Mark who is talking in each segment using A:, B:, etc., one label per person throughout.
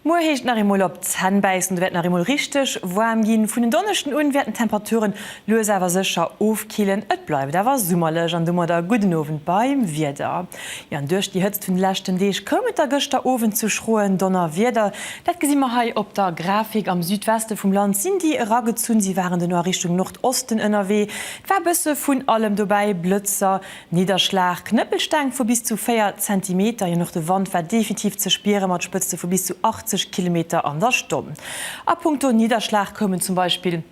A: Muer heescht et nach eemol op d'Zänn bäissen, et wäert nach eemol richteg waarm ginn. Vun en Donneschden un wäerten d'Temperaturen lues awer sécher ofkillen, et bleift awer summerlech an domadder gudden Owend beim Wieder. Jo, an duerch déi Hëtzt vun de leschten Deeg koum et da gëschter Owend zu schroen Donnerwieder. Dat gesi mer hei op der Grafik. Am Südweste vum Land sinn déi eragezunn, si waren duerno a Richtung Nordosten ënnerwee. Et war e bësse vun allem dobäi, Blëtzer, Nidderschlag, Knëppelsteng vu bis zu 4 Zentimeter. Jo, an och de Wand war definitiv ze spiere mat Spëtzte vu bis zu 80 Kilometer an der Stonn. A Punkto Nidderschlag koumen zum Beispill.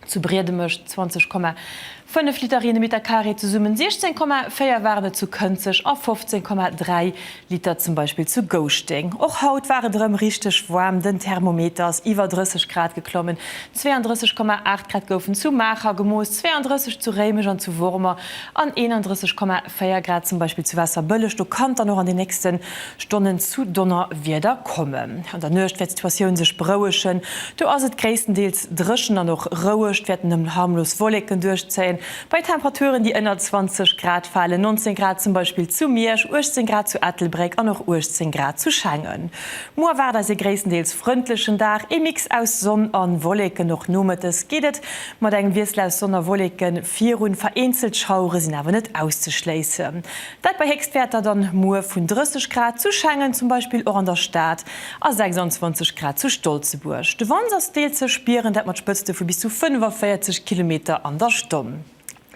A: Zu Briedemesch 20,5 Liter Rienemeter Carré, zesummen 16,4 waren et zu Kënzeg a 15,3 Liter zum Beispill zu Gouschteng. Och haut war et erëm richteg waarm, den Thermometer ass iwwer 30 Grad geklommen, 32,8 Grad goufen zu Maacher gemooss, 32 zu Réimech an zu Wormer an 31,4 4 Grad zum Beispill zu Waasserbëlleg. Do kann et dann och an den nächste Stonnen zu Donnerwieder kommen. An der Nuecht wäert d'Situatioun sech berouegen. Do ass et gréisstendeels dréchen an och roueg. Et wäerten nëmmen harmlos Wolleken duerchzéien, bei Temperaturen, déi ënner 20 Grad falen, 19 Grad zum Beispill zu Miersch, 18 Grad zu Ettelbréck an och 18 Grad zu Schengen. Muer erwaart eis ee gréisstendeels frëndlechen Dag, ee Mix aus Sonn a Wolleken. Och nomëttes geet et Mat engem Wiessel aus Sonn a Wolleke virun, vereenzelt Schauere sinn awer net auszeschléissen. Dat bei Héchstwäerter dann muer vun 30 Grad zu Schengen, zum Beispill och an der Stad, a 26 Grad zu Stolzebuerg. De Wand ass deels ze spieren, dat mat Spëtzte vu bis zu 45 Kilometer an der Stonn.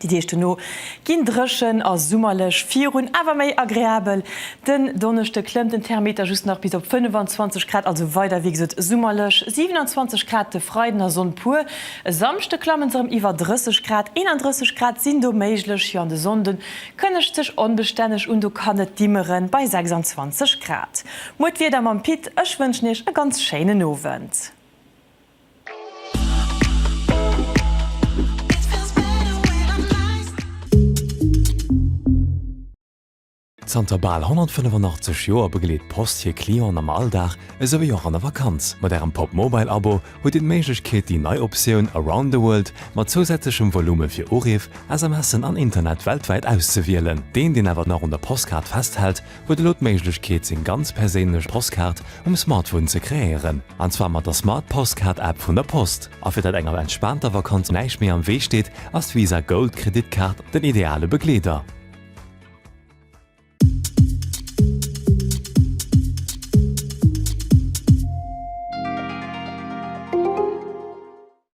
A: Déi Deeg duerno ginn dréchen a summerlech virun, awer méi agreabel. Den Donneschde klëmmt den Thermeter just nach bis op 25 Grad, also weider wéi gesot summerlech, 27 Grad de Freiden a Sonn puer. E Samschde klamme se rem iwwer 30 Grad, 31 Grad sinn do méiglech, jo an de Sonnde kënnegt sech onbestänneg un, do kann et dimmeren bei 26 Grad. Muer d'Wieder mam Pit, ech wënschen Iech e ganz schéinen Owend.
B: Zanter bal 185 Joer begleet d'Post hir Clienten am Alldag esouwéi och an der Vakanz. Mat Ärem Pop Mobile Abo hutt Dir d'Méiglechkeet déi nei Optioun Around the World mat zousätzlechem Volume fir Uriff, SMSen an Internet weltwäit auszewielen. Deen, deen awer nach un der Postkaart festhält, huet elo d'Méiglechkeet seng ganz perséinlech Postkaart um Smartphone ze kreéieren, an zwar mat der Smart Postcard App vun der Post. A fir datt enger entspaanter Vakanz näischt méi am Wee steet, ass d'Visa Gold Kreditkaart den ideale Begleeder.